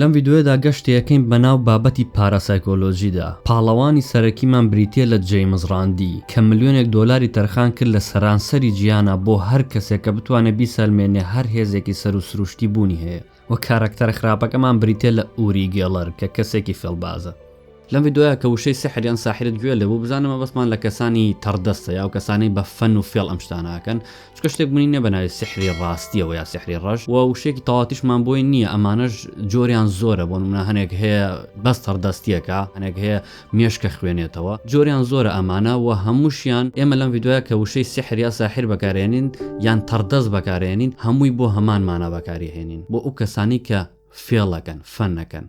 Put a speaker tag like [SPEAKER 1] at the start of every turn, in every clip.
[SPEAKER 1] لەم ڤیدیۆیەدا گەشتی
[SPEAKER 2] ئەکەین بەناو بابەتی پاراسایکۆلۆژیدا. پاڵەوانی سەرەکیمان بریتییە لە جەیمس ڕاندی، کە ملیۆنێک دۆلاری تەرخان کرد لە سەرانسەری جیهانا بۆ هەر کەسێک کە بتوانێت بیسەلمێنێ هەر هێزێکی سەروو سروشتی بوونی هەیە. وە کارەکتەرە خراپەکەمان بریتییە لە ئوری گێڵەر کە کەسێکی فێڵبازە. لەم ڤیدۆیە کە وشەی سحر یان ساحرت گوێ لێ بوو بزانە مەبەستمان لە کەسانی تەڕدەستە یا و کەسانەی بە فەن و فێڵ ئەم شتانە ئەکەن چونکە شتێک بوونی نییە بە ناوی سحری ڕاستییەوە یا سحری ڕەش و وشێکی تەواوتیشمان بۆی نییە ئەمانەش جۆریان زۆرە بۆ نمونە هەنێک هەیە بەس تەڕدەستیەکە هەنێک هەیە مێشکە خوێنێتەوە جۆریان زۆرە ئەمانە و هەمووشیان ئێمە لەم ڤیدۆیە کە وشەی سحر یا ساحر بەکارێنین یان تەڕدەست بەکارێنین هەمووی بۆ هەمانمانە بەکاری هێنین بۆ ئەو کەسانی کە فێڵ ئەکەن فەن ئەکەن.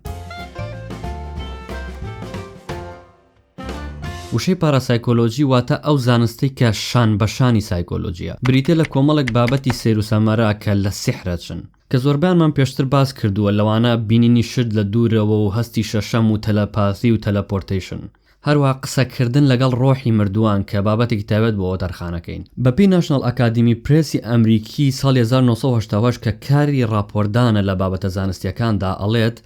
[SPEAKER 2] وشەی پاراسایکۆلۆجی واتە ئەو زانستەی کە شان بە شانی سایکۆلۆجیە بریتە لە کۆمەڵێک بابەتی سەیروسەمەرە کە لە سیحرەچن کە زۆربانمان پێشتر باس کردووە لەوانە بینینی شت لە دوورەوە و هەستی شەشەم و تەلەپاثی و تەلەپۆرتەیشن هەروەها قسەکردن لەگەڵ ڕۆحی مردووان کە بابەتێکی تایبەت بۆ وەتەرخانەکەین. بەپێی ناشناڵ ئەکادیمی پرێسی ئەمریکی ساڵی هەزار و نۆ سەد و هەشتا و هەشت کە کاری ڕاپۆرتدانە لە بابەتە زانستییەکاندا ئەڵێت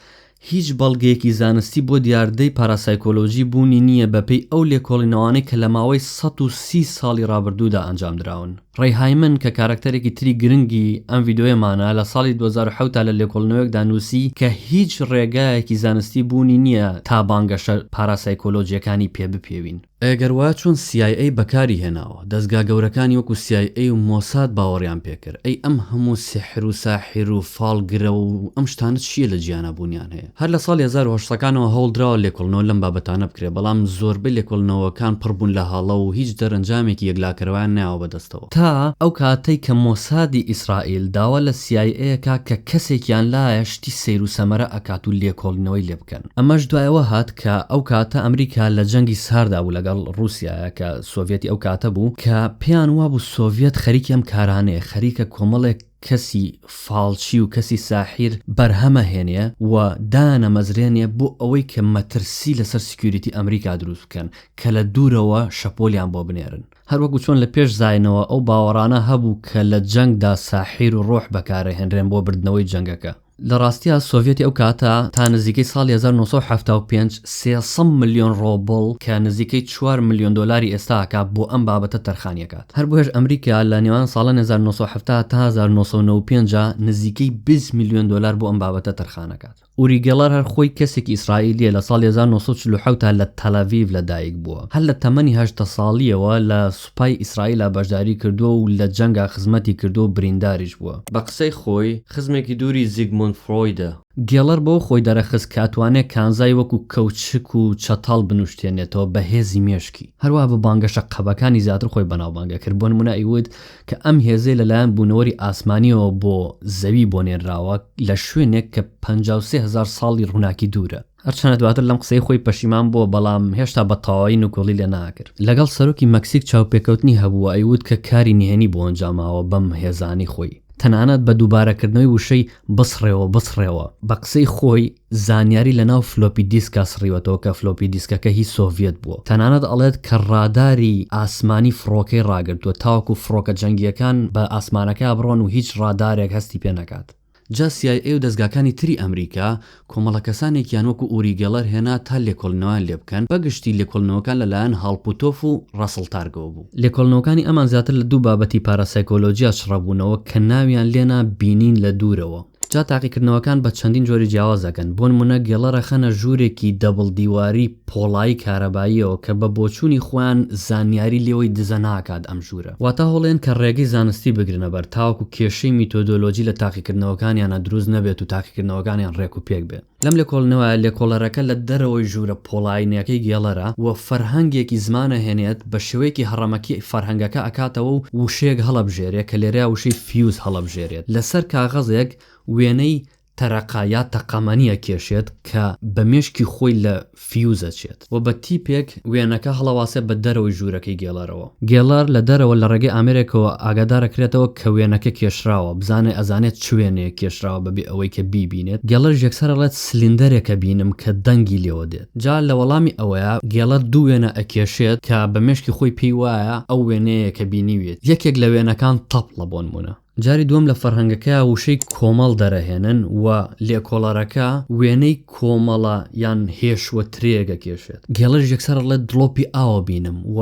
[SPEAKER 2] هیچ بەڵگەیەکی زانستی بۆ دیاردەی پاراسایکۆلۆژی بوونی نییە بەپێی ئەو لێکۆڵینەوانەی کە لە ماوەی سەد و سی ساڵی ڕابردوودا ئەنجامدراون. ڕەی هایمن کە کاراکتەرێکی تری گرنگی ئەم ڤیدیۆیەمانە، لە ساڵی دوو هەزار و حەوت دا لە لێکۆڵنەوەیەکدا نووسی کە هیچ ڕێگایەکی زانستی بوونی نییە تا بانگەشە پاراسایکۆلۆجییەکانی پێ بپێوین. ئەگەر وایە چۆن سی ئای ئەی بەکاری هێناوە؟ دەزگا گەورەکانی وەکوو سی ئای ئەی و مۆساد باوەڕیان پێ کرد. ئەی ئەم هەموو سیحر و ساحیر و فاڵگرە و ئەم شتانە چییە لە جیانا بوونیان هەیە؟ هەر لە ساڵی هەزار و هەشت سەکانەوە هەوڵدراوە لێکۆڵنەوە لەم بابەتانە بکرێت، بەڵام زۆربەی لێکۆڵنەوەکان پڕ بوون لە هەڵە و هیچ دەرەنجامێکی یەکلاکەرەوەیان نەیاوە بەدەستەوە. تا ئەو کاتەی کە مۆسادی ئیسرائیل داوا لە سی ئای ئەی ئەکا کە کەسێکیان لایە شتی سەیر و سەمەرە ئەکات و لێکۆڵینەوەی لێ بکەن. ئەمەش دوای ئەوە هات کە ئەو کاتە ئەمریکا لە جەنگی ساردا بوو لەگەڵ ڕووسیایە کە سۆڤیەتی ئەو کاتە بوو کە پێیان وابوو سۆڤیەت خەریکی ئەم کارانەیە، خەریکە کۆمەڵێک. کەسی فاڵچی و کەسی ساحیر بەرهەمە هێنێ و دانە مەزرێنێ بۆ ئەوەی کە مەترسی لەسەر سیکیوریتی ئەمریکا دروست بکەن کە لە دوورەوە شەپۆلیان بۆ بنێرن هەر وەکو چۆن لە پێش زاینەوە ئەو باوەڕانە هەبوو کە لە جەنگدا ساحیر و ڕۆح بەکارەهێنرێن بۆ بردنەوەی جەنگەکە. لە ڕاستیا سۆڤیەتی ئەو کاتە تا نزیکەی ساڵی هەزار و نۆ سەد و حەفتا و پێنج سێ سەد ملیۆن ڕۆبڵ کە نزیکەی چوار ملیۆن دۆلاری ئێستا ئەکا بۆ ئەم بابەتە تەرخانی ئەکات هەر بۆیەش ئەمریکا لە نێوان ساڵانی هەزار و نۆ سەد و حەفتا تا هەزار و نۆ سەد و نەوەد و پێنج نزیکەی بیست ملیۆن دۆلار بۆ ئەم بابەتە تەرخان ئەکات. ئوری گێڵەر هەر خۆی کەسێکی ئیسرائیلیە لە ساڵی هەزار و نۆ سەد و چل و حەوت لە تەلەڤیڤ لە دایک بووە هەر لە تەمەنی هەژدە ساڵیەوە لە سوپای ئیسرائیلا بەشداری کردووە و لە جەنگا خزمەتی کردووە و برینداریش بووە. بە قسەی خۆی، خزمێکی دووری زیگموند فرۆیدە. گێڵەر بەوە خۆی دەرەخست کە ئەتوانێت کانزای وەکو کەوچک و چەتاڵ بنوشتێنێتەوە بە هێزی مێشکی. هەروەها بە بانگەشە قەبەکانی زیاتر خۆی بەناوبانگ دەکرد، بۆ نموونە ئەیوت کە ئەم هێزەی لەلایەن بوونەوەری ئاسمانییەوە بۆ زەوی بۆ نێنراوە لە شوێنێک کە پەنجا و سێ هەزار ساڵی ڕووناکی دوورە. هەرچەنە دواتر لەم قسەی خۆی پەشیمان بووە بەڵام هێشتا بە تەواوی نکوڵی لێ ناکرد. لەگەڵ سەرۆکی مەکسیک چاوپێکەوتنی هەبوو و ئەیوت کە کاری نهێنی بۆ ئەنجاماوە بەم هێزانەی خۆی تەنانەت بە دووبارەکردنەوەی وشەی بسڕێوە بسڕێوە. بە قسەی خۆی زانیاری لە ناو فلۆپی دیسکا سڕیوەتەوە کە فلۆپی دیسکەکە هی سۆڤیەت بووە. تەنانەت ئەڵێت کە ڕاداری ئاسمانی فڕۆکەی ڕاگرتووە تاوەکو فڕۆکە جەنگییەکان بە ئاسمانەکە بڕۆن و هیچ ڕادارێک هەستی پێ نەکات. جا سی ئای ئەی و دەزگاکانی تری ئەمریکا کۆمەڵە کەسانێکیان وەکو ئوری گێڵەر هێنا تا لێکۆلنەوەیان لێ بکەن، بە گشتی لێکۆلنەوەکان لە لایەن هاڵ پوتۆف و ڕاسڵ تارگەوە بوو. لێکۆلنەوەکانی ئەمان زیاتر لە دوو بابەتی پاراسایکۆلۆجیا چڕە بوونەوە کە ناویان لێ نا بینین لە دوورەوە. جا تاقیکردنەوەکان بە چەندین جۆری جیاواز دەکەن، بۆنموونە گێڵەرەخەنە ژوورێکی دەبڵ دیواری، پۆڵایی کارەباییەوە کە بە بۆچوونی خۆیان زانیاری لێوەی دزە ناکات ئەم ژوورە واتا هەوڵێن کە ڕێگەی زانستی بگرنە بەر تاوەکو کێشەی میتۆدۆلۆجی لە تاقیکردنەوەکانیانا دروست نەبێت و تاقیکردنەوەکانیان ڕێک و پێک بێ لەم لێکۆڵنەوە لێکۆڵەرەکە لە دەرەوەی ژوورە پۆڵاینەکەی گێڵەرە و فەرهەنگێکی زمان ئەهێنێت بە شێوەیەکی هەڕەمەکی فەرهەنگەکە ئەکاتەوە و وشەیەک هەڵەبژێرێ کە لێرەیا وشەی فیوز هەڵەبژێرێت لە سەر کاغەزێک وێنەی تەرەقە یا تەقەمەنی ئەکێشێت کە بە مێشکی خۆی لە فیوز ئەچێت و بە تیپێک وێنەکە هەڵەواسێت بە دەرەوەی ژوورەکەی گێلەرەوە. گێلەر لە دەرەوە لە ڕێگەی ئامێرێکەوە ئاگادارەکرێتەوە کە وێنەکە کێشراوە، بزانێت ئەزانێت چ وێنەیەک کێشراوە بەبێ ئەوەی کە بیبینێت، گێلەریش یەکسەر ئەڵێت سلیندەرێک ئەبینم کە دەنگی لێوە دێت. جا لە وەڵامی ئەوەیا گێلەر دوو وێنە ئەکێشێت کە بە مێشکی خۆی پێی وایە ئەو وێنەیە کە بینیویەتی، یەکێک لە وێنەکان تەپڵە بۆنموونە. جاری دووەم لە فەرهەنگەکەیا وشەی کۆمەڵ دەرەهێنن و لێکۆڵەرەکە وێنەی کۆمەڵە یان هێش و ترێ گەکێشێت. گێڵەش یەکسەر ئەڵێت دڵۆپی ئاو بینم و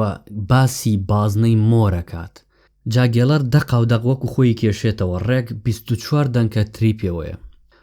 [SPEAKER 2] باسی بازنەی مۆر ئەکات. جا گێڵەر دەقاو دەق وەکو خۆی ئیکێشێتەوە، ڕێک بیست و چوار دەنکە تری پێوەیە.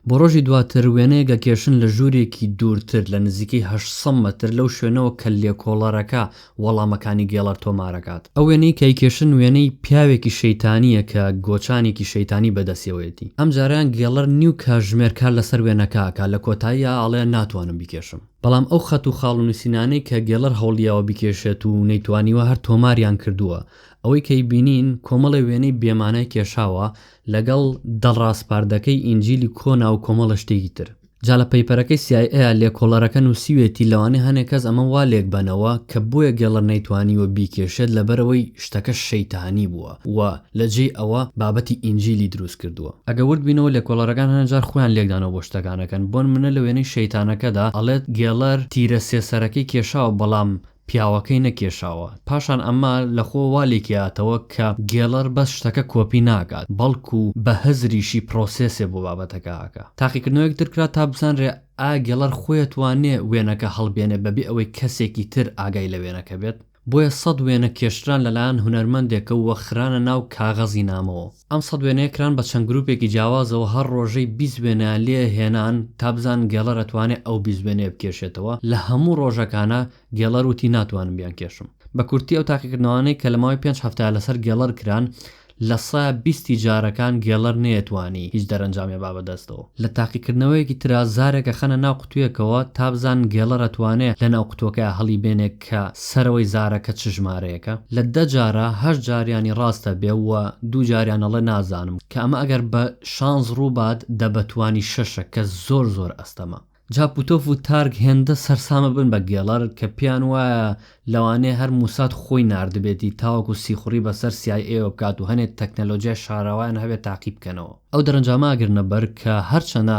[SPEAKER 2] بۆ ڕۆژی دواتر وێنەیەک ئەکێشن لە ژوورێکی دوورتر لە نزیکەی هەشت سەد مەتر لەو شوێنەوە کە لێکۆڵەرەکە وەڵامەکانی گێڵەر تۆمار ئەکات. ئەو وێنەی کە ئەیکێشن وێنەی پیاوێکی شەیتانییە کە گۆچانێکی شەیتانی بەدەستیەوەیەتی. ئەم جارەیان گێڵەر نیو کاژمێر کار لەسەر وێنەکە ئەکات لە کۆتاییا ئەڵێ ناتوانم بیکێشم. بەڵام ئەو خەت و خاڵ و نووسینانەی کە گێڵەر هەوڵییاوە بیکێشێت و نەیتوانیوە هەر تۆماریان کردووە. ئەوەی کە ئەیبینین کۆمەڵێ وێنەی بێمانای کێشاوە لەگەڵ دە ڕاسپاردەکەی ئینجیلی کۆنا و کۆمەڵە شتێکی تر. جا لە پەیپەرەکەی سی ئای ئەیا لێکۆڵەرەکە نووسیوێتی لەوانەیە هەنێ کەس ئەمە وا لێکبەنەوە کە بۆیە گێڵەر نەیتوانیوە بیکێشێت لەبەرئەوەی شتەکە شەیتانی بووە و لە جێی ئەوە بابەتی ئینجیلی دروست کردووە. ئەگەر ورد بینەوە لێکۆڵەرەکان هەنێ جار خۆیان لێکدانەوە بۆ شتەکانەکەن بۆنمونە لە وێنەی شەیتانەکەدا ئەڵێت گێڵەر تیرە سێ سەرەکەی کێشاوە بەڵام پیاوەکەی نەکێشاوە پاشان ئەمە لەخۆ وا لێکیاتەوە کە گێڵەر بەس شتەکە کۆپی ناکات بەڵکو بە هزریشی پرۆسێسێ بۆ بابەتەکە ئەکا تاقیکردنەوەیەک تر کرا تا بزانرێ ئایا گێڵەر خۆی ئەتوانێ وێنەکە هەڵبێنێ بەبێ ئەوەی کەسێکی تر ئاگای لە وێنەکە بێت بۆیە سەد وێنە کێشران لەلایەن هونەرمەندێکەووە خرانە ناو کاغەزی نامەوە. ئەم سەد وێنەیە کران بە چەند گروپێکی جیاوازەوە هەر ڕۆژەی بیست وێنەیان لێ هێنان تا بزانن گێڵەر ئەتوانێ ئەو بیست وێنەیە بکێشێتەوە لە هەموو ڕۆژەکانا گێڵەر وتی ناتوانم بیانکێشم بە کورتی ئەو تاقیکردنەوانەی کە لە ماوەی پێنج هەفتەیا لەسەر گێڵەر کران لە سە بیستی جارەکان گێڵەر نەیەتوانی هیچ دەرەنجامێ با بەدەستەوە لە تاقیکردنەوەیەکی ترا زارێک ئەخەنە ناو قوتویەکەوە تا بزانن گێڵەر ئەتوانێ لە ناو قوتوەکەیا هەڵی بێنێ کە سەرەوەی زارەکە چ ژمارەیەکە لە دە جارا هەشت جاریانی ڕاستە بێ و دوو جاریان ئەڵێ نازانم کە ئەمە ئەگەر بە شانس ڕوو بات دە بەتوانی شەشە کە زۆر زۆر ئەستەمە. جا پوتۆف و تارگ هێندە سەرسامە بن بە گێڵەر کە پێیان وایە لەوانەیە هەر موساد خۆی ناردبێتی تاوەکو سیخوڕی بەسەر سی ئای ئێوە بکات و هەنێ تەکنەلۆجیای شاراوەیان هەبێ تاقی بکەنەوە ئەو دەرەنجامە ئەگرنە بەر کە هەرچەنە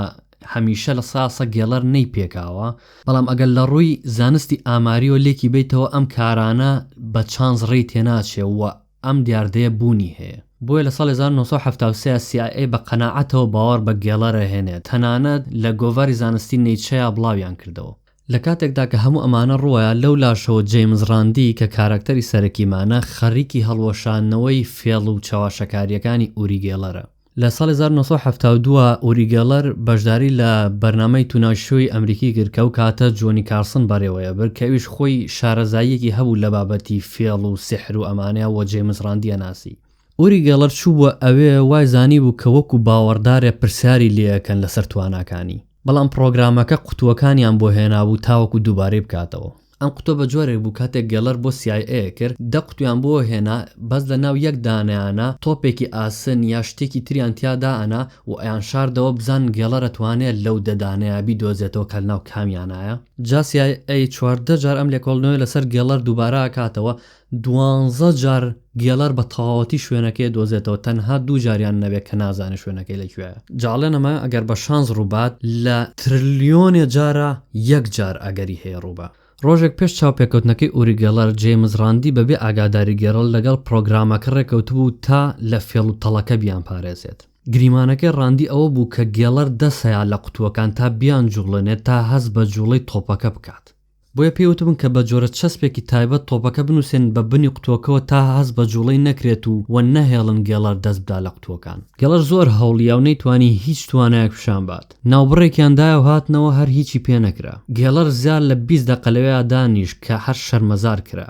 [SPEAKER 2] هەمیشە لە سا سە گێڵەر نەی پێکاوە، بەڵام ئەگەر لە ڕووی زانستی ئاماریەوە لێکی بەیتەوە ئەم کارانە بە چانس ڕێی تێناچێ و ئەم دیاردەیە بوونی هەیە. بۆیە لە ساڵی هەزار و نۆ سەد و حەفتا و سێ سی ئای ئەی بە قەناعەتەوە باوەڕ بە گێڵەر ئەهێنێ، تەنانەت لە گۆڤاری زانستی نەیچەیا بڵاویان کردەوە. لە کاتێکدا کە هەموو ئەمانە ڕووەیە، لەو لاشەوە جەیمس ڕاندی کە کاراکتەری سەرەکیمانە، خەریکی هەڵوەشاندنەوەی فێڵ و چەواشەکارییەکانی ئوری گێڵەرە. لە ساڵی هەزار و نۆ سەد و حەفتا و دو ئوری گێڵەر بەشداری لە بەرنامەی تونایت شۆی ئەمریکی کرد کە ئەو کاتە جۆنی کارسن بەڕێوەیەبرد کە ئەویش خۆی شارەزاییەکی هەبوو لە بابەتی فێڵ و سیحر و ئەمانە و جەیمس ڕاندی ئەناسی. ئوری گێڵەر چووبووە ئەوێ وای زانیبوو کە وەکو باوەڕدارێ پرسیاری لێ ئەکەن لەسەر تواناکانی بەڵام پڕۆگرامەکە قوتووەکانیان بۆ هێنابوو تاوەکو دووبارەی بکاتەوە. ئەم قوتوە بە جۆرێک بوو کاتێک گێڵەر بۆ سی ئای ئەی کرد دە قوتویان بۆ هێنا بەس لە ناو یەک دانەیانا تۆپێکی ئاسن یا شتێکی تریان تیا دائەنا و ئەیان شاردەوە بزانن گێڵەر ئەتوانێ لەو دە دانەیە بیدۆزێتەوە کە لە ناو کامیانایە. جا سی ئای ئەی چواردە جار ئەم لێکۆڵنەوەیە لە سەر گێڵەر دووبارە ئەکاتەوە دوانزە جار گێلەر بە تەواوەتی شوێنەکەی دۆزێتەوە تەنها دوو جاریان نەبێت کە نازانێت شوێنەکەی لە کوێیە جاڵێن ئەمە ئەگەر بە شانس ڕووبات لە ترلیۆنێ جارا یەک جار ئەگەری هەیە ڕووبا. ڕۆژێک پێش چاوپێکەوتنەکەی ئوری گێلەر جەیمس ڕاندی بە بێ ئاگاداری گێرڵ لەگەڵ پڕۆگرامەکە ڕێکەوتبوو تا لە فێڵ و تەڵەکە بیانپارێزێت گریمانەکەی ڕاندی ئەوە بوو کە گێڵەر دەسەیا لە قوتووەکان تا بیانجووڵێنێت تا هەست بە جووڵەی تۆپەکە بکات بۆیە پێی وتبن کە بە جۆرە چەسپێکی تایبەت تۆپەکە بنووسێنن بە بنی قوتووەکەوە تا هەست بە جووڵەی نەکرێت و و نەهێڵن گێڵەر دەست بدا لە قوتووەکان. گێڵەر زۆر هەوڵیا و نەیتوانی هیچ توانایەک پیشان بات. ناوبڕێکیان دایە و هاتنەوە هەر هیچی پێ نەکرا. گێڵەر زیاد لە بیست دەقە لەوێا دانیشت کە هەر شەرمەزار کرا.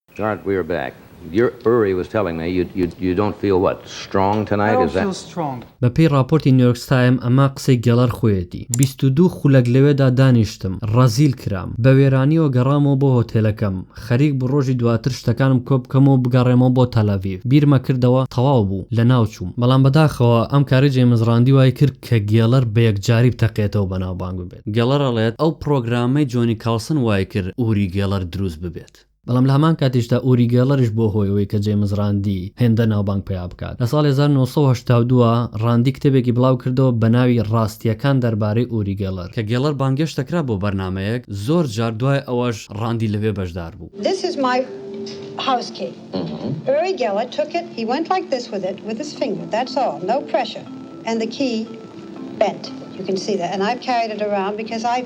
[SPEAKER 3] Mark we are back your Uri was telling me you you you don't feel what strong tonight is that I don't feel strong. بە پێی
[SPEAKER 4] ڕاپۆرتی
[SPEAKER 2] نیۆرکس تایم ئەمە قسەی گێڵەر خۆیەتی بیست و دوو خولەک لەوێدا دانیشتم ڕەزیل کرام بە وێرانیەوە گەڕامەوە بۆ هۆتێلەکەم خەریک بوو ڕۆژی دواتر شتەکانم کۆ بکەمەوە و بگەڕێمەوە بۆ تەلەڤیڤ بیرمە کردەوە تەواو بوو لە ناو چووم بەڵام بەداخەوە ئەم کارەی جەیمس ڕاندی وای کرد کە گێڵەر بە یەکجاری بتەقێتەوە بەناوبانگ ببێت گێڵەر ئەڵێت ئەو پڕۆگرامەی جۆنی کاڵسن وای کرد ئوری گێڵەر دروست ببێت. بەڵام لە هەمان کاتیشدا ئوری گێڵەرش بووە هۆی ئەوەی کە جەیمس ڕاندی هێندە ناوبانگ پەیا بکات. لە ساڵی هەزار و نۆ سەد و هەشتا و دو ڕاندی کتێبێکی بڵاو کردەوە بە ناوی ڕاستییەکان دەربارەی ئوری گێڵەر. کە گێڵەر بانگێشت دەکرا بۆ بەرنامەیەک، زۆر جار دوای ئەوەش ڕاندی لەوێ بەشدار بوو. This is my
[SPEAKER 5] house key. Uri Geller took it, he went like this with it with his finger, that's all, no pressure, and the key bent, you can see that, and I've carried it around because I.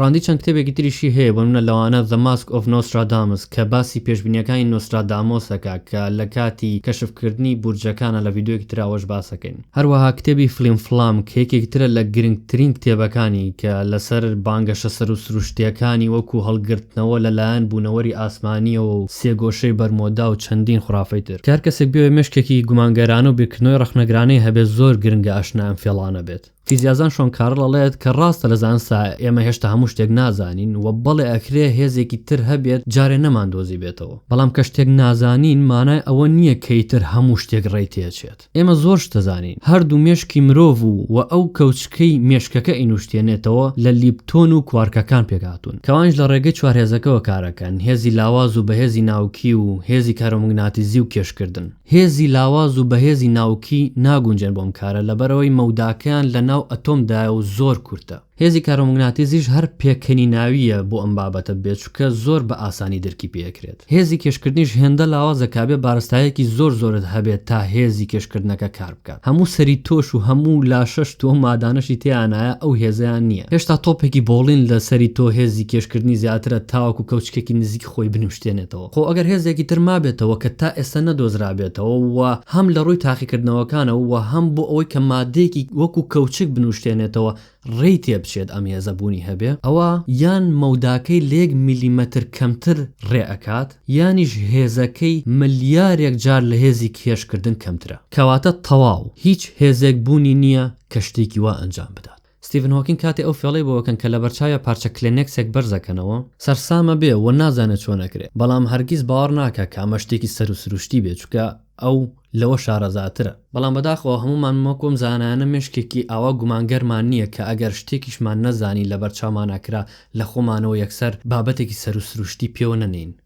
[SPEAKER 6] ڕاندی چەند
[SPEAKER 7] کتێبێکی تریشی هەیە بۆ نمونە
[SPEAKER 2] لەوانە The Mask of Nostradamus کە باسی پێشبینیەکانی نۆسترادامۆسەکە کە لە کاتی کەشف کردنی بورجەکانە لە ڤیدیۆیەکی تراوەش باسەکەین هەروەها کتێبی فلیم فلام کە یەکێک ترە لە گرنگترین کتێبەکانی کە لەسەر بانگەشە سەرو سروشتیەکانی وەکو هەڵگرتنەوە لە لایەن بونەوەری ئاسمانیەوە و سێگۆشەی بەرمۆدا و چەندین خورافەی تر کە هەر کەسێک بێ مێشکێکی گومانگەرانە و بیرکردنەوەی ڕەخنەگرانەی هەبێت زۆر گرنگە ئاشنای ئەم فێڵانە بێت. فیزیازان شۆن کارل ئەڵێت کە ڕاستە لە زانستا ئێمە هێشتا هەموو شتێک نازانین و بەڵێ ئەکرێ هێزێکی تر هەبێت جارێ نەماندۆزیبێتەوە بەڵام کە شتێک نازانین مانای ئەوە نییە کە ئیتر هەموو شتێک ڕێی تێچێت ئێمە زۆر شت دەزانین هەردوو مێشکی مرۆڤ و و ئەو کەوچکەی مێشکەکە ئەینوشتێنێتەوە لە لیپتۆن و کوارکەکان پێکهاتوون کە ئەوانیش لە ڕێگەی چوار هێزەکەوە کارەکەن هێزی لاواز و بەهێزی ناوکی و هێزی کارۆموگناتیزی و کێشکردن. هێزی لاواز و بەهێزی ناوکی ناگونجێن بۆ ئەم کارە لەبەرئەوەی مەوداکەیان لەناو ئەتۆم دایە و زۆر کورتە. هێزی کارۆموگناتیزیش هەر پێکەنیناوییە بۆ ئەم بابەتە بێ چوکە زۆر بە ئاسانی درکی پێ ئەکرێت. هێزی کێشکردنیش هێندە لاوازە کابێ بارستایەکی زۆر زۆرت هەبێت تا هێزی کێشکردنەکە کار بکات. هەموو سەری تۆش و هەموو لاشەشت و ئەو مادانەشی تێیانایە ئەو هێزەیان نییە. هێشتا تۆپێکی بۆڵین لە سەری تۆ هێزی کێشکردنی زیاترە تاوەکو کەوچکێکی نزیک خۆی بنوشتێنێتەوە خۆ ئەگەر هێزێکی تر مابێتەوە کە تا ئێستا نەدۆزرابێتەوە و هەم لە ڕووی تاقیکردنەوەکانە و هەم بۆ ئەوەی کە ماددەیەکی وەکو کەوچک بنوشتێنێتەوە ڕێی تێبچێت ئەم هێزە بوونی هەبێ ئەوا یان مەوداکەی لە یەک میلیمەتر کەمتر ڕێ ئەکات یانیش هێزەکەی ملیارێک جار لە هێزی کێشکردن کەمترە کەواتە تەواو هیچ هێزێک بوونی نییە کە شتێکی وا ئەنجام بدات. ستیڤن هۆکینگ کاتێ ئەو فێڵەی بۆ ئەکەن کە لەبەرچاویا پارچە کلێنێکسێک بەرز ئەکەنەوە، سەرسامە بێ و نازانێ چۆن ئەکرێ، بەڵام هەرگیز باوەڕ ناکا کە ئەمە شتێکی سەروو سروشتی بێ، چونکە ئەو لەوە شارەزاترە. بەڵام بەداخەوە هەموومان وەکو ئەم زانایانە مێشکێکی ئاوا گومانگەرمان نییە کە ئەگەر شتێکیشمان نەزانی لەبەرچاومانا کرا لە خۆمانەوە یەکسەر بابەتێکی سەروو سروشتی پێوە نەنێین.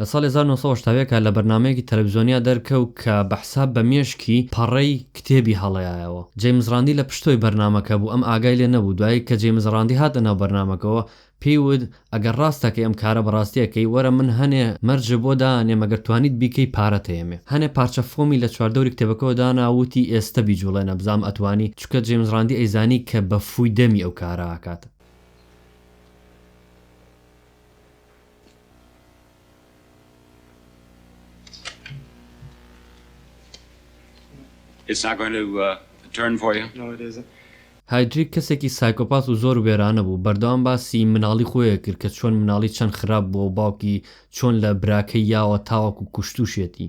[SPEAKER 8] لە ساڵی هەزار و نۆ سەد و هەشتا
[SPEAKER 2] و یەک لە بەرنامەیەکی تەلەفزیۆنیا دەرکەوت کە بە حساب بە مێشکی پەڕەی کتێبی هەڵەیایەوە. جەیمس ڕاندی لە پشتۆی بەرنامەکە بوو، ئەم ئاگای لێ نەبوو. دوایی کە جەیمس ڕاندی هاتە ناو بەرنامەکەوە، پێی وت، ئەگەر ڕاستە کە ئەم کارە بە ڕاستی ئەکەی، وەرە من هەنێ مەرجت بۆ دانێم ئەگەر توانیت بیکەی پارەت ئەیەمێ. هەنێ پارچە فۆمی لە چواردەوری کتێبەکەوە دانا و وتی، ئێستە بیجووڵێ نەبزانم ئەتوانی، چونکە جەیمس ڕاندی ئەیزانی کە بە فووی دەمی ئەو کارە ئەکات.
[SPEAKER 8] هایدریک کەسێکی
[SPEAKER 2] سایکۆپاس و زۆر وێرانە بوو، بەردەوام باسی مناڵی خۆی ئەکرد کە چۆن مناڵی چەند خراپ بووە و باوکی چۆن لە براکەی یاوە تاوەکو کوشتوشیەتی.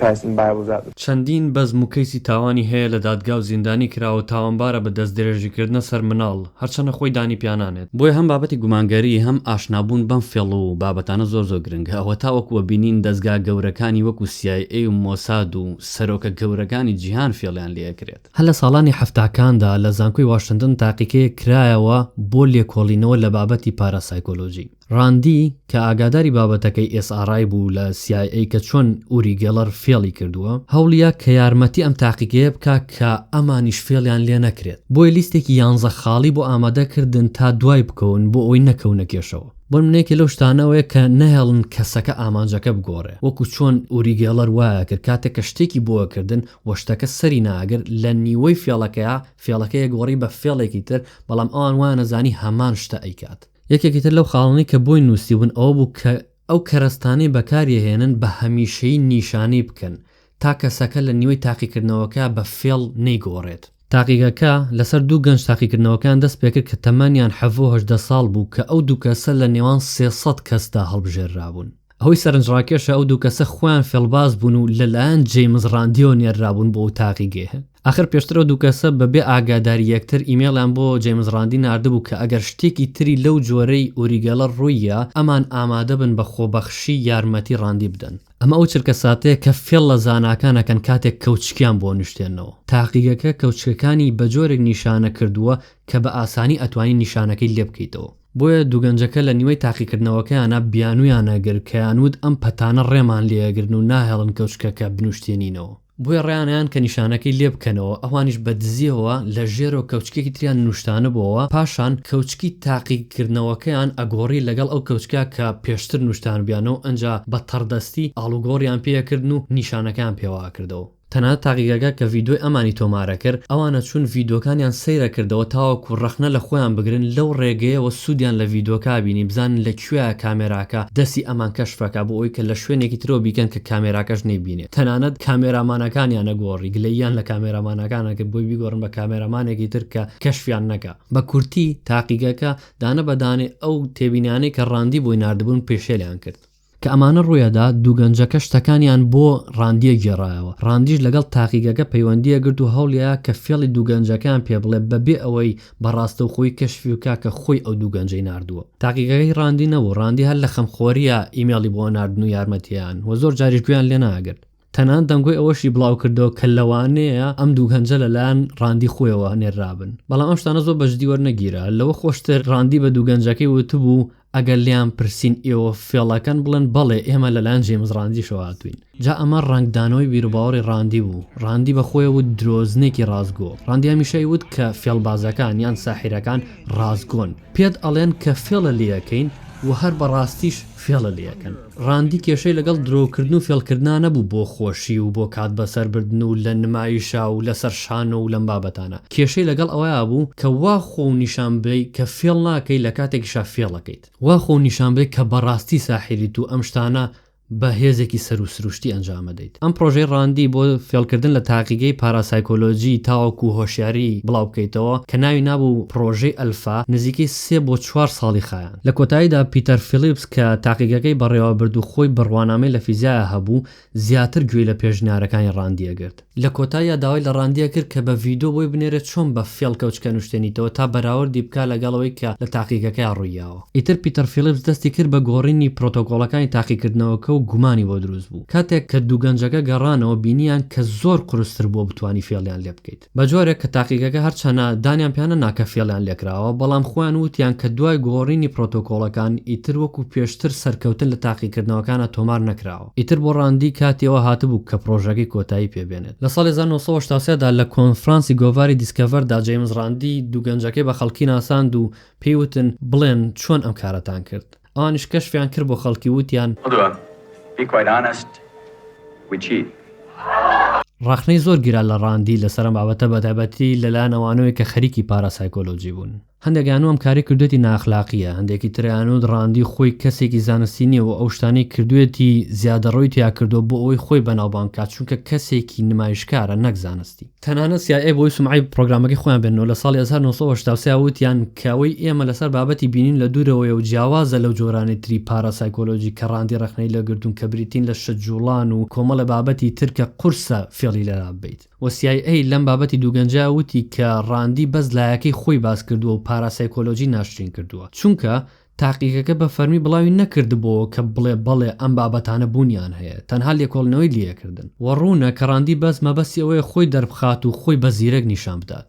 [SPEAKER 8] Past in Bible That. چەندین بەزم و کەیسی
[SPEAKER 2] تاوانی هەیە لە دادگا و زیندانی کراوە و تاوانبارە بە دەستدرێژیکردنە سەر مناڵ، هەرچەنە خۆی دانی پیا نانێت. بۆیە هەم بابەتی گومانگەری هەم ئاشنابوون بەم فێڵ و بابەتانە زۆر زۆر گرنگە. ئەوە تاوەکو وە بینین دەزگا گەورەکانی وەکو CIA و مۆساد و سەرۆکە گەورەکانی جیهان فێڵیان لێ ئەکرێت. هەر لە ساڵانی حەفتاکاندا لە زانکۆی واشنتن تاقیکەیەک کرایەوە بۆ لێکۆڵینەوە لە بابەتی پاراسایکۆلۆژی. راندی کە ئاگاداری بابەتەکەی ئێس ئاڕ ئای بوو لە سی ئای ئەی کە چۆن ئوری گێڵەر فێڵی کردووە، هەوڵیە کە یارمەتی ئەم تاقیگەیە بکا کە ئەمانیش فێڵیان لێ نەکرێت، بۆیە لیستێکی یانزە خاڵی بۆ ئامادە کردن تا دوای بکەون بۆ ئەوەی نەکەونە کێشەوە. بۆ نمونە یەکێ لەو شتانە ئەوەیە کە نەهێڵن کەسەکە ئامانجەکە بگۆڕێ وەکو چۆن ئوری گێڵەر وایە کرد کاتێک کە شتێکی بۆ کردن و شتەکە سەری نەئەگرت لە نیوەی فێڵەکەیا فێڵەکەی ئەگۆڕی بە فێڵێکی تر بەڵام ئەوان وایان ئەزانی هەمان شتە ئەیکات. یەکێکی تر لەو خاڵانەی کە بۆی نووسیبوون ئەوە بوو کە ئەو کەرەستانەی بەکاریەهێنن بە هەمیشەیی نیشانەی بکەن تا کەسەکە لە نیوەی تاقیکردنەوەکە بە فێڵ نەیگۆڕێت. تاقیگەکە لەسەر دوو گەنج تاقیکردنەوەکەیان دەست پێکرد کە تەمەنیان حەڤدە و هەژدە ساڵ بوو کە ئەو دوو کەسە لە نێوان سێ سەد کەسدا هەڵبژێررابوون. ئەوەی سەرنجڕاکێشە ئەو دوو کەسە خۆیان فێڵباز بوون و لەلایەن جەیمس ڕاندیەوە نێررابوون بۆ ئوتاقی گێه. ئاخر پێشتر ئەو دوو کەسە بەبێ ئاگاداری یەکتر ئیمەیڵیان بۆ جەیمس ڕاندی ناردبوو کە ئەگەر شتێکی تری لەو جۆرەی ئوری گێلەر ڕوویە ئەمان ئامادە بن بە خۆبەخشی یارمەتی ڕاندی بدەن. ئەمە ئەو چرکەساتەیە کە فێڵ لە زاناکان ئەکەن کاتێک کەوچکیان بۆ نیشتێنەوە. تاقیگەکە کەوچکەکانی بەجۆرێک نیشانە کردووە کە بە ئاسانی ئەتوانی نیشانەکەی لێبکەیتەوە. بۆیە دوو گەنجەکە لە نیوەی تاقیکردنەوەکەیانا بیانوویان ئەگرت کەیان وت ئەم پەتانە ڕێمان لێ ئەگرن و ناهێڵن کەوچکەکە بنووشتێنینەوە، بۆیە ڕایانەیان کە نیشانەکەی لێ بکەنەوە، ئەوانیش بە دزییەوە لە ژێرەوە کەوچکێکی تریان نووشتانبۆوە، پاشان کەوچکی تاقیکردنەوەکەیان ئەگۆڕی لەگەڵ ئەو کەوچکە کە پێشتر نووشتانبیانەوە، ئنجا بە تەڕدەستی ئاڵوگۆڕیان پێ ئەکردن و نیشانەکەیان پێوە ئەکردەوە. تەنانەت تاقیگەکە کە ڤیدۆی ئەمانی تۆمارە کرد، ئەوانە چوون ڤیدۆکانیان سەیرە کردەوە تاوەکو ڕەخنە لە خۆیان بگرن لەو ڕێگەیەوە سوودیان لە ڤیدۆکە بینی بزانن لە کوێیە کامێراکە دەستی ئەمان کەشفەکە بۆ ئەوەی کە لە شوێنێکی ترەوە بیکەن کە کامێراکەش نەیبینێت تەنانەت کامێرامانەکانیانە گۆڕی گلەییان لە کامێرامانەکانە کرد بۆی بیگۆڕن بە کامێرامانێکی تر کە کەشفیان نەکا. بە کورتی تاقیگەکە دانە بە دانەی ئەو تێبینانەی کە ڕاندی بۆی ناردبوون پێشێلیان کرد. کە ئەمانە ڕوویەدا دوو گەنجەکە شتەکانیان بۆ ڕاندیە گێڕایەوە، ڕاندیش لەگەڵ تاقیگەکە پەیوەندیە گرت و هەوڵیا کە فێڵی دوو گەنجەکەیان پێ بڵێ بەبێ ئەوەی بە ڕاستەوخۆی کەشفی بکا کە خۆی ئەو دوو گەنجەی ناردووە تاقیگەکە هی ڕاندی نەبوو ڕاندی هەر لە خەمخۆریا ئیمێڵی بۆ ناردن و یارمەتیان و زۆر جاریش گوێیان لێ ناگرت تەنانەت دەنگۆی ئەوەشی بڵاوکردەوە کە لەوانەیە ئەم دوو گەنجە لەلایەن ڕاندی خۆیەوە نێررابن، بەڵام ئەم شتانە زۆر بەجددی وەرنەگیرا. لەوە خۆشتر ڕاندی بە دوو گەنجەکەی وتبوو، ئەگەر لێیان پرسین ئێوە فێڵەکەن، بڵێن بەڵێ ئێمە لەلایەن جەیمس ڕاندیشەوە هاتووین. جا ئەمە ڕەنگدانەوەی بیروباوەڕی ڕاندی بوو. ڕاندی بە خۆی وت درۆزنێکی ڕاستگۆ. ڕاندی هەمیشە ئەیوت کە فێڵبازەکان یان ساحیرەکان ڕاستگۆن. پێت ئەڵێن کە فێڵە لێ ئەکەین و هەر بە ڕاستیش فێڵە لێ ئەکەن. ڕاندی کێشەی لەگەڵ درۆ کردن و فێڵ کردنا نەبوو بۆ خۆشی و بۆ کات بە سەر بردن و لە نمایشا و لە سەر شانۆ و لەم بابەتانە. کێشەی لەگەڵ ئەوەیا بوو کە وا خۆو نیشان بدەی کە فێڵ ناکەی لە کاتێکیشا فێڵ ئەکەیت. وا خۆو نیشان بدەی کە بە ڕاستی ساحیریت و ئەم شتانە بە هێزێکی سەروو سروشتی ئەنجام ئەدەیت. ئەم پڕۆژەی ڕاندی بۆ فێڵکردن لە تاقیگەی پاراسایکۆلۆجی تاوەکوو هۆشیاری بڵاو بکەیتەوە کە ناوی نابوو پڕۆژەی ئەلفا، نزیکەی سێ بۆ چوار ساڵی خایاند. لە کۆتاییدا پیتەر فیلیپس کە تاقیگەکەی بەڕێوە برد و خۆی بڕوانامەی لە فیزیایا هەبوو، زیاتر گوێی لە پێشنیارەکانی ڕاندی ئەگرت. لە کۆتاییا داوای لە ڕاندیە کرد کە بە ڤیدۆ بۆی بنێرێت چۆن بە فێڵ کەوچکە نوشتێنیتەوە تا بەراوردی بکات لەگەڵ ئەوەی کە لە تاقیگەکەیا ڕوویاوە. ئیتر پیتەر فیلیپس دەستی کرد بە گۆڕینی پرۆتۆکۆڵەکانی تاقیکردنەوەکە و گومانی بۆ دروست بوو. کاتێک کە دوو گەنجەکە گەڕانەوە بینییان کە زۆر قورستر بووە بتوانی فێڵیان لێ بکەیت. بە جۆرێک کە تاقیگەکە هەرچەنە دانیان پێ نەنا کە فێڵیان لێ کراوە بەڵام خۆیان وتیان کە دوای گۆڕینی پرۆتۆکۆڵەکان ئیتر وەکو پێشتر سەرکەوتن لە تاقیکردنەوەکانا تۆمار نەکراوە. ئیتر بۆ ڕاندی کاتی ئەوە هاتبوو کە پڕۆژەکەی کۆتایی پێ بێنێت. لە ساڵی هەزار و نۆ سەد و هەشتا و سێ دا لە کۆنفرانسی گۆڤاری دیسکەڤەر دا جەیمس ڕاندی دوو گەنجەکەی بە خەڵکی ناساند و پێی وتن بڵێن چۆن ئەم کارەتان کرد؟ ئەوانیش کەشفیان کرد بۆ خەڵکی وتیان. ڕەخنەی زۆر گیرا لە ڕاندی لەسەر ئەم بابەتە بەتایبەتی لەلایەن ئەوانەوەی کە خەریکی پاراسایکۆلۆجی بوون. هەندێک ئانو ئەم کارەی کردوێتی نائەخلاقیە هەندێکی تر ئانو ڕاندی خۆی کەسێکی زانستی نیە و ئەو شتانەی کردوێتی زیادەڕۆی تیا کردوە بۆ ئەوەی خۆی بەناوبانگ بکات چونکە کەسێکی نمایشکارە نەک زانستی. تەنانەت سی ئای ئەی بۆی سومعەی پڕۆگرامەکەی خۆیان بێننەوە لە ساڵی هەزار و نۆ سەد و هەشتا و سێ وتیان کە ئەوەی ئێمە لەسەر بابەتی بینین لە دوورەوەیە و جیاوازە لەو جۆرانەی تری پارا سایکۆلۆجی کە ڕاندی ڕەخنەی لێ گرتوون کە بریتین لە شت جوڵان و کۆمەڵێ بابەتی تر کە قورسە فێڵی لێ لا ببەیت. و سی ئای ئەی لەم بابەتی دوو گەنجە وتی کە ڕاندی بەس لایەکەی خۆی باس کردووە و پاراسایکۆلۆجی ناشرین کردووە چونکە تاقیگەکە بە فەرمی بڵاوی نەکردبۆوە کە بڵێ بەڵێ ئەم بابەتانە بوونیان هەیە تەنها لێکۆڵینەوەی لیەکردن و ڕوونە کە ڕاندی بەس مەبەستی ئەوەیە خۆی دەربخات و خۆی بە زیرەک نیشان بدات.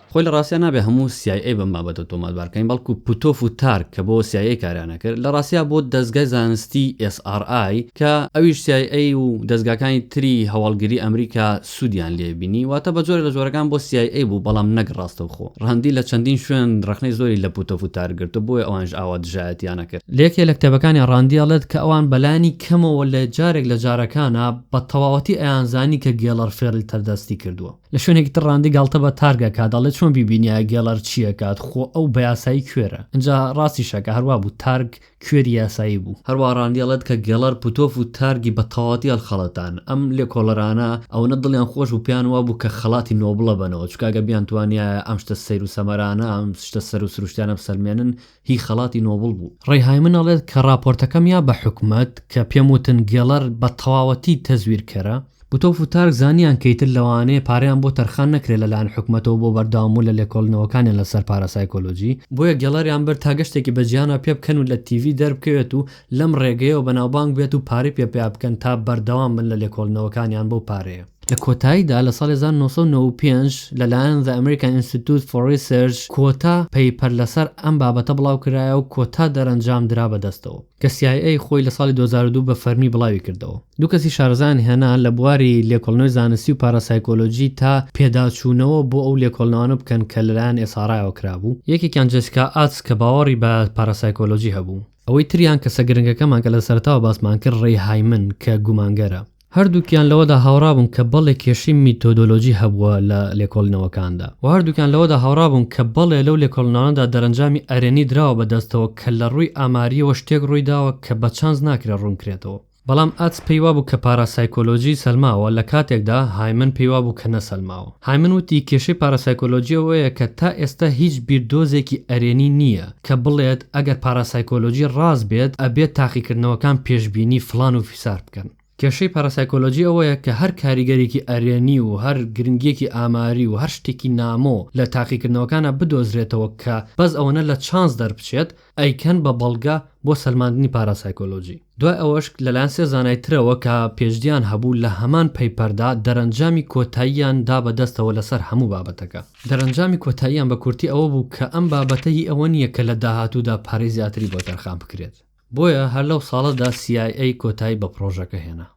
[SPEAKER 9] خۆی لە ڕاستیا نابێ
[SPEAKER 2] هەموو سی ئای ئەی بەم بابەتە تۆماتبار بکەین، بەڵکو پوتۆف و تارک کە بۆ سی ئای ئەی کاریان ئەکرد، لە ڕاستیا بۆ دەزگای زانستیی ئێس ئاڕ ئای کە ئەویش سی ئای ئەی و دەزگاکانی تری هەواڵگری ئەمریکا سوودیان لێ بینی، واتە بە جۆرێ لە جۆرەکان بۆ سی ئای ئەی بوو بەڵام نەک ڕاستەوخۆ. ڕاندی لە چەندین شوێن ڕەخنەی زۆری لە پوتۆف و تارک گرتووە بۆیە ئەوانیش ئاوا دژایەتیان ئەکرد. لە یەکێ لە کتێبەکانیا ڕاندی ئەڵێت کە ئەوان بە لانی کەمەوە لە جارێک لە جارەکانا بە تەواوەتی ئەیانزانی کە گێڵەر فێڵی تەردەستی کردووە. لە شوێنێکی تر ڕاندی گاڵتە بە تارگ ئەکات دەڵێت چۆن بیبینیایە گێڵەر چی ئەکات خۆ ئەو بە یاسایی کوێرە ئنجا ڕاستیشەکە هەروا بوو تارگ کوێری یاسایی بوو. هەروا ڕاندی ئەڵێت کە گێڵەر پوتۆف و تارگی بە تەواوەتی هەڵخەڵەتان ئەم لێکۆڵەرانە ئەوەنە دڵیان خۆش بوو پێیان وابوو کە خەڵاتی نۆبڵ ئەبەنەوە چونکە ئەگەر بیانتوانیایە ئەم شتە سەیر و سەمەرانە ئەم شتە سەر و سروشتیانە بسەلمێنن هی خەڵاتی نۆبڵ بوو. ڕەی هایمن ئەڵێت کە ڕاپۆرتەکەم یا بە حکومەت کە پێم وتن گێڵەر بە تەواوەتی تەزویرکەرە، بوتۆف و تارک زانیان کە ئیتر لەوانەیە پارەیان بۆ تەرخان نەکرێت لە لایەن حکومەتەوە بۆ بەردەوامبوون لە لێکۆڵینەوەکانیان لە سەر پارا سایکۆلۆجی، بۆیە گێڵەریان برد تا گەشتێکی بە جیهانەوە پێ بکەن و لە تیڤی دەربکەوێت و لەم ڕێگەیەوە بەناوبانگ بێت و پارەی پێ پەیا بکەن تا بەردەوام بن لە لێکۆڵینەوەکانیان بەو پارەیە. لە کۆتاییدا لە ساڵی هەزار و نۆ سەد و نەوە و پێنج لەلایەن The American Institute for Research کۆتا پەیپەر لەسەر ئەم بابەتە بڵاوکرایە و کۆتا دەرەنجام درا بە دەستەوە کە CIA خۆی لە ساڵی دوو هەزار و دوو بە فەرمی بڵاوی کردەوە. دوو کەسی شارەزایان هێنا لە بواری لێکۆڵنەوەی زانستی و پاراسایکۆلۆجی تا پێداچوونەوە بۆ ئەو لێکۆڵنەوانە بکەن کە لەلایەن ئێسارایەوە کرابوو، یەکێکیان جێسیکا ئاتس کە باوەڕی بە پاراسایکۆلۆجی هەبوو. ئەوەی تریان کەسە گرنگەکەمان کە لە سەرەتاوە باسمان کرد ڕەی هایمن کە گومانگەرە. هەردووکیان لەوەدا هاوڕابوون کە بەڵێ کێشەی میتۆدۆلۆجی هەبووە لە لێکۆڵینەوەکاندا و هەردووکیان لەوەدا هاوڕابوون کە بەڵێ لەو لێکۆڵینەوانەدا دەرەنجامی ئەرێنی دراوە بە دەستەوە کە لە ڕووی ئامارییەوە شتێک ڕووی داوە کە بە چانس ناکرێت ڕوون کرێتەوە. بەڵام ئاتس پێی وابوو کە پاراسایکۆلۆجی سەلماوە لە کاتێکدا هایمن پێی وابوو کە نەسەلماوە. هایمن وتی کێشەی پاراسایکۆلۆجی ئەوەیە کە تا ئێستا هیچ بیردۆزێکی ئەرێنی نییە کە بڵێت ئەگەر پاراسایکۆلۆجی ڕاست بێت ئەبێت تاقیکردنەوەکان پێشبینی فڵان و سارد بکەن. کێشەی پاراسایکۆلۆجی ئەوەیە کە هەر کاریگەرێکی ئەرێنی و هەر گرنگییەکی ئاماری و هەر شتێکی نامۆ لە تاقیکردنەوەکانا بدۆزرێتەوە کە بەس ئەوەنە لە چانس دەربچێت، ئەیکەن بە بەڵگە بۆ سەلماندنی پاراسایکۆلۆجی. دوای ئەوەش لەلایەن سێ زانای ترەوە کە پێشدیان هەبوو لە هەمان پەیپەردا دەرەنجامی کۆتاییان دا بە دەستەوە لەسەر هەموو بابەتەکە. دەرەنجامی کۆتاییان بە کورتی ئەوە بوو کە ئەم بابەتە هی ئەوە نییە کە لە داهاتوودا پارەی زیاتری بۆ تەرخان بکرێت. بۆیە هەر لەو ساڵەدا سی ئای ئەی کۆتایی بە پڕۆژەکە هێنا.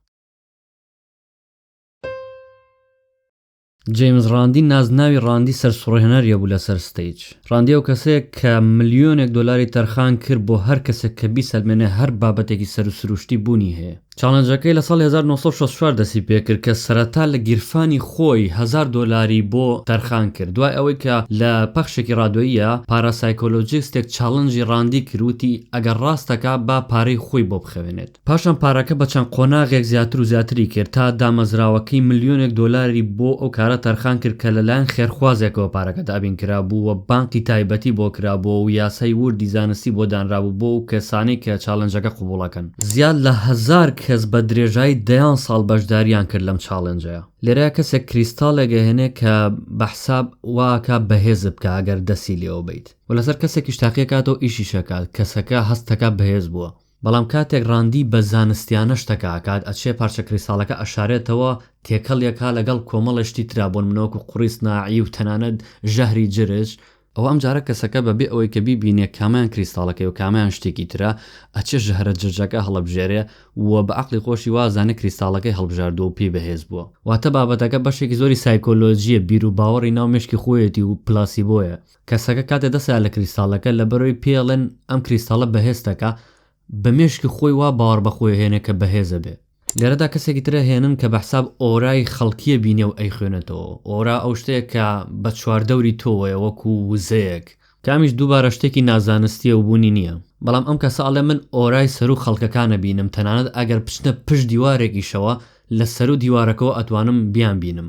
[SPEAKER 2] جەیمس ڕاندی نازناوی ڕاندی سەرسوڕهێنەریە بوو لەسەر ستەیج. ڕاندی ئەو کەسەیە کە ملیۆنێک دۆلاری تەرخان کرد بۆ هەر کەسێک کە بیسەلمێنێ هەر بابەتێکی سەروسروشتی بوونی هەیە. چاڵنجەکەی لە ساڵی هەزار و نۆ سەد و شەست و چوار دەستی پێکرد کە سەرەتا لە گیرفانی خۆی هەزار دۆلاری بۆ تەرخان کرد دوای ئەوەی کە لە پەخشێکی ڕادیۆییە پاراسایکۆلۆجیستێک چاڵنجی ڕاندی کرد وتی ئەگەر ڕاست دەکا با پارەی خۆی بۆ بخەوێنێت پاشان پارەکە بە چەند قۆناغێک زیاتر و زیاتری کرد تا دامەزراوەکەی ملیۆنێک دۆلاری بۆ ئەو کارە تەرخان کرد کە لەلایەن خێرخوازێکەوە پارەکە دابین کرابوو و بانقی تایبەتی بۆ کرابوو و یاسای ووردی زانستی بۆ دانرابوو بۆ ئەو کەسانەی کە چاڵنجەکە قبوڵەکەن. زیاد لە هەزار کەس بە درێژای دەیان ساڵ بەشداریان کرد لەم چاڵێنجەیە لێرە کەسێک کریستاڵێک ئەهێنێ کە بە حساب واکە بەهێزت بکە ئەگەر دەستی لێوە بیت و لەسەر کەسێکیش تاقیەکاتەوە ئیشیشەکات کەسەکە هەستەکە بەهێز بووە بەڵام کاتێک ڕاندی بە زانستیانە شتەکە ئەکات ئەچێ پارچە کریستاڵەکە ئەشارێتەوە تێکەڵی ئەکا لەگەڵ کۆمەڵێ شتی ترا بۆ نمونە وەکو قوڕی سناعی و تەنانەت ژەهری جرج ئەوە ئەمجارە کەسەکە بەبێ ئەوەی کە بیبینێ کامەیان کریستاڵەکەی و کامەیان شتێکی ترە ئەچێ ژەهرە جرجەکە هەڵەبژێرێ و بە عەقڵی خۆشی وا ئەزانێ کریستاڵەکەی هەڵبژاردووە و پێی بەهێز بووە. واتە بابەتەکە بەشێکی زۆری سایکۆلۆجییە، بیروباوەڕی ناو مێشکی خۆیەتی و پلاسیبۆیە. کەسەکە کاتێ دەستەیا لە کریستاڵەکە لەبەرئەوەی پێیەڵێن ئەم کریستاڵە بەهێزتەکە، بە مێشکی خۆی وا باوەڕ بەخۆی ئەهێنێ کە بەهێزە بێ. لێرەدا کەسێکی تر ئەهێنن کە بەحساب ئۆرای خەڵکیە بینێ و ئەیخوێنێتەوە، ئۆرا ئەو شتەیە کە بە چواردەوری تۆوەیە وەکو وزەیەک، کە ئەمیش دووبارە شتێکی نازانستیە و بوونی نیە، بەڵام ئەم کەسە ئەڵێ من ئۆرای سەروو خەڵکەکان ئەبینم تەنانەت ئەگەر بچنە پشت دیوارێکیشەوە لە سەروو دیوارەکەوە ئەتوانم بیانبینم.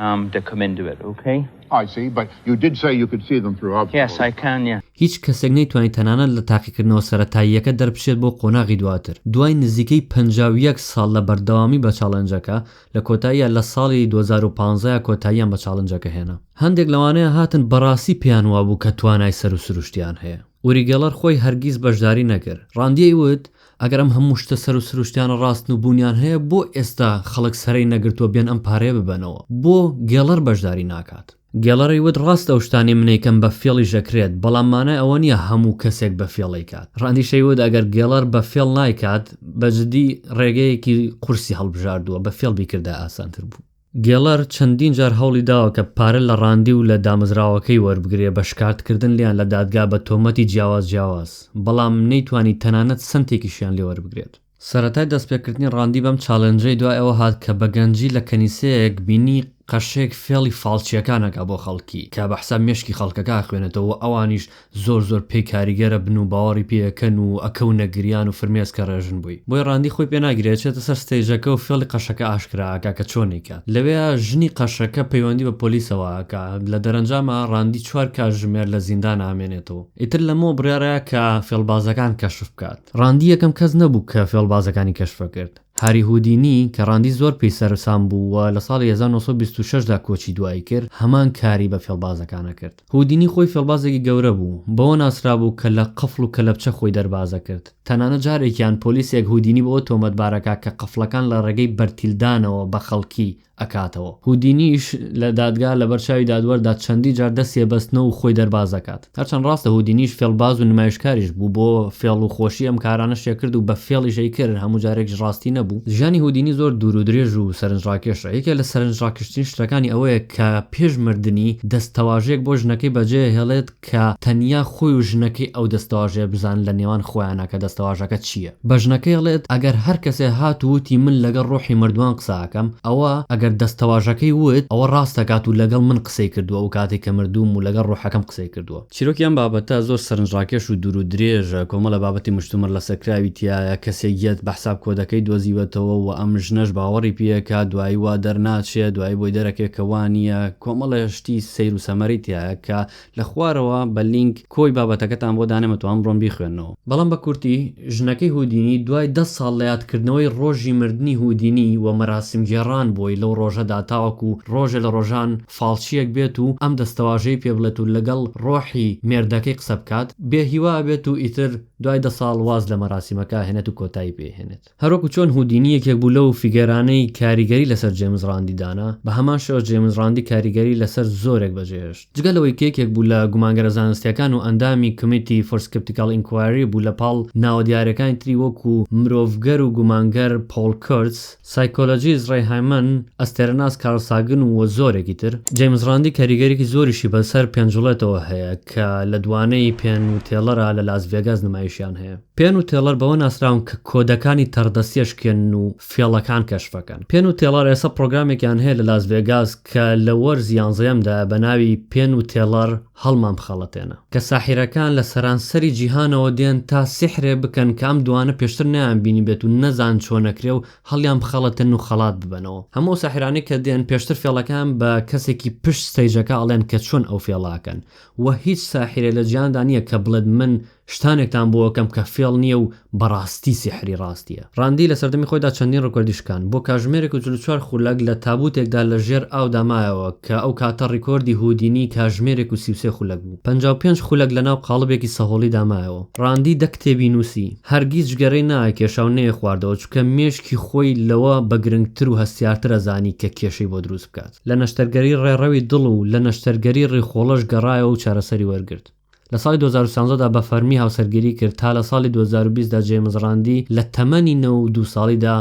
[SPEAKER 10] ئام دەکەمێن دوێر ئوکەی. ئای سی بەت
[SPEAKER 11] یو دیت سەی یو کود سی زەم ثرو ئاوت هێ سای کان نیە.
[SPEAKER 10] هیچ کەسێک نەیتوانی
[SPEAKER 2] تەنانەت لە تاقیکردنەوە سەرەتاییەکە دەربچێت بۆ قۆناغی دواتر. دوای نزیکەی پەنجا و یەک ساڵ لە بەردەوامی بە چاڵنجەکە، لە کۆتاییا لە ساڵی دوو هەزار و پازدە کۆتاییان بە چاڵنجەکە هێنا. هەندێک لەوانەیە هاتن بەڕاستی پێیان وابوو کە توانای سەروسروشتیان هەیە. ئوری گێڵەر خۆی هەرگیز بەشداری نەکرد. ڕاندیەی وت، ئەگەر ئەم هەموو شتە سەر و سروشتیانە ڕاستن و بوونیان هەیە بۆ ئێستا خەڵک سەرەی نەگرتووە بێن ئەم پارەیە ببەنەوە؟ بۆ گێڵەر بەشداری ناکات؟ گێڵەری وت ڕاستە ئەو شتانەی من ئەیکەم بە فێڵیش ئەکرێت بەڵام مانای ئەوە نییە هەموو کەسێک بە فێڵ ئەیکات. ڕاندیشەی وت ئەگەر گێڵەر بە فێڵ نایکات بە جدی ڕێگەیەکی قورسی هەڵبژاردووە بە فێڵ بیکردایە ئاسانتر بوو. گێڵەر چەندین جار هەوڵی داوە کە پارە لە ڕاندی و لە دامەزراوەکەی وەربگرێ بە شکاردکردن لێیان لە دادگا بە تۆمەتی جیاواز جیاواز، بەڵام نەیتوانی تەنانەت سەنتێکیشیان لێ وەربگرێت. سەرەتای دەستپێکردنی ڕاندی بەم چالێنجەی دوای ئەوە هات کە بە گەنجی لە کەنیسەیەک بینی قەشەیەک فێڵی فاڵچییەکان ئەکا بۆ خەڵکی کە بە حساب مێشکی خەڵکەکە ئەخوێنێتەوە و ئەوانیش زۆر زۆر پێی کاریگەرە بن و باوەڕی پێ ئەکەن و ئەکەونە گریان و فرمێس کە ڕێژن بووی بۆی ڕاندی خۆی پێ ناگری ئەچێتە سەر ستەیجەکە و فێڵی قەشەکە ئاشکرا ئەکا کە چۆن ئەیکات لەوێیا ژنی قەشەکە پەیوەندی بە پۆلیسەوە ئەکا لە دەرەنجاما ڕاندی چوار کاژژمێر لە زیندان ئامێنێتەوە ئیتر لەمەوە بڕیاڕا کە فێڵبازەکان کەشف بکات ڕاندی یەکەم کەس نەبوو کە فێڵبازەکانی کەشفەکرد. هاری هودینی کە ڕاندی زۆر پێی سەرسام بوو و لە ساڵی هەزار و نۆ سەد و بیست و شەش دا کۆچی دوایی کرد، هەمان کاری بە فێڵبازەکان ئەکرد. هودینی خۆی فێڵبازێکی گەورە بوو، بەوە ناسرابوو کە لە قفڵ و کەلەپچە خۆی دەرباز ئەکرد. تەنانەت جارێکیان پۆلیسێک هودینی بەوە تۆمەتبار ئەکا کە قفڵەکان لە ڕێگەی بەرتیلدانەوە بە خەڵکی ئەکاتەوە. هودینیش لە دادگا لەبەر چاوی دادوەردا چەندی جار دەستی ئەبەستنەوە و خۆی دەرباز ئەکات. هەرچەند ڕاستە هودینیش فێڵباز و نمایشکاریش بوو، بۆ فێڵ و خۆشی ئەم کارانەشی ئەکرد و بە فێڵیش ئەیکرد، هەموو جارێکیش ڕاستی نەبوو. ژیانی هودینی زۆر دوور و درێژ و سەرنجڕاکێشە. یەکێک لە سەرنجڕاکێشترین شتەکانی ئەوەیە کە پێش مردنی دەستەواژەیەک بۆ ژنەکەی بەجێ ئەهێڵێت، کە تەنیا خۆی و ژنەکەی ئەو دەستەواژەیە بزانن لە نێوان خۆیانا کە دەستەواژەکە چییە. بە ژنەکەی ڵێت ئەگەر هەر کەسێ هات و وتی من لەگەڵ ڕۆحی مردووان قسە ئەکەم، ئەوە ئەگەر دەستەواژەکەی وت ئەوە ڕاست دەکات و لەگەڵ من قسەی کردووە و کاتێ کە مردووم و لەگەڵ ڕۆحەکەم قسەی کردووە. چیرۆکی ئەم بابەتە زۆر سەرنجڕاکێش و دوور و درێژە، کۆمەڵە بابەتی مشتومڕ لەسەرکراوی تیایە، کەسێک یەت بە حساب کۆدەکەی دۆزیوەتەوە و ئەم ژنەش باوەڕی پێیەکا، دوایی وا دەرناچێ، دوایی بۆی دەرەکێ کە وا نییە، کۆمەڵە. شتی سەیر و سەمەری تیایە کە لە خوارەوە بە لینک کۆی بابەتەکەتان بۆ دانێمەتەوە ئەمڕۆم بیخوێنەوە. بەڵام بە کورتی ژنەکەی هودینی دوای دە ساڵ لە یادکردنەوەی ڕۆژی مردنی هودینی و مەراسیم گێڕان بۆی لەو ڕۆژەدا تاوەکو ڕۆژێ لە ڕۆژان فاڵچیەک بێت و ئەم دەستەواژەی پێ بڵێت و لەگەڵ ڕۆحی مێردەکەی قسە بکات بێ هیوا ئەبێت و ئیتر دوای دە ساڵ واز لە مەراسیمەکە ئەهێنێت و کۆتایی پێ ئەهێنێت. هەروەکو چۆن هودینی یەکێک بوو لەو فیگەرانەی کاریگەری لەسەر جێمس ڕاندی دانا، بە هەمان شێوە جێمس ڕاندی کاریگەری لەسەر زۆرێک بەجێهێشت. جگە لەوەی کە یەکێک بوو لە گومانگەرە زانستییەکان و ئەندامی Committee for Skeptical Inquiry بوو لەپاڵ ناوە دیارەکانی تری وەکو مرۆڤگەر و گومانگەر پۆڵ کورتز، سایکۆلۆژیست ڕەی هایمەن، ئەستێرەناس کارل ساگن و زۆرێکی تر. جێمس ڕاندی کاریگەریی زۆریشی بەسەر پێنجوڵێتەوە هەیە کە لە دوانەی پێن و تێڵەرا لە لاس ڤێگاس نمایشیان هەیە. پێن و تێڵەر بەوە ناسراون کە کۆدەکانی تەڕدەستی ئەشکێنن و فێڵەکان کەشف ئەکەن. پێن و تێڵەر ئێستا پڕۆگرامێکیان هەیە لە لاس ڤێگاس کە لە وەرز یانزەیەمدایە بە ناوی پێن و تێڵەر هەڵمان بخەڵەتێنە، کە ساحیرەکان لە سەرانسەری جیهانەوە دێن تا سیحرێ بکەن کە ئەم دووانە پێشتر نەیان بینیبێت و نەزان چۆن ئەکرێ و هەڵیان بخەڵەتێنن و خەڵات ببەنەوە. هەموو ئەو ساحیرانەی کە دێن پێشتر فێڵەکەیان بە کەسێکی پشت ستەیجەکە ئەڵێن کە چۆن ئەو فێڵە ئەکەن و هیچ ساحیرێ لە جیهاندا نییە کە بڵێت من شتانێکتان بۆ ئەکەم کە فێڵ نییە و بەڕاستی سیحری ڕاستییە. ڕاندی لە سەردەمی خۆیدا چەندین ڕیکۆردی شکاند. بۆ کاژمێرێک و چل و چوار خولەک لە تابووتێکدا لە ژێر ئاودا مایەوە، کە ئەو کاتە ڕیکۆردی هودینی کاژمێرێک و سی و سێ خولەک بوو. پەنجا و پێنج خولەک لەناو قاڵبێکی سەهۆڵیدا مایەوە. ڕاندی دە کتێبی نووسی. هەرگیز جگەرەی نایکێشا و نەیەخواردەوە، چونکە مێشکی خۆی لەوە بە گرنگتر و هەستیارتر ئەزانی کە کێشەی بۆ دروست بکات. لە نەشتەرگەری ڕێڕەوی دڵ و لە نەشتەرگەری ڕیخۆڵەش گەڕایەوە و چارەسەری وەرگرت. لە ساڵی دوو هەزار و سیانزە دا بە فەرمی هاوسەرگیری کرد تا لە ساڵی دوو هەزار و بیست دا جەیمس ڕاندی لە تەمەنی نەوە و دوو ساڵی دا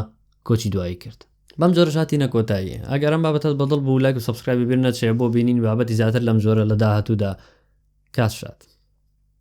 [SPEAKER 2] کۆچی دوایی کرد. بەم جۆرەش هاتینە کۆتایی. ئەگەر ئەم بابەتەت بە دڵ بوو لایک و سەبسکرایبی بیر نەچێ بۆ بینینی بابەتی زیاتر لەم جۆرە لە داهاتوودا. کاس شاد.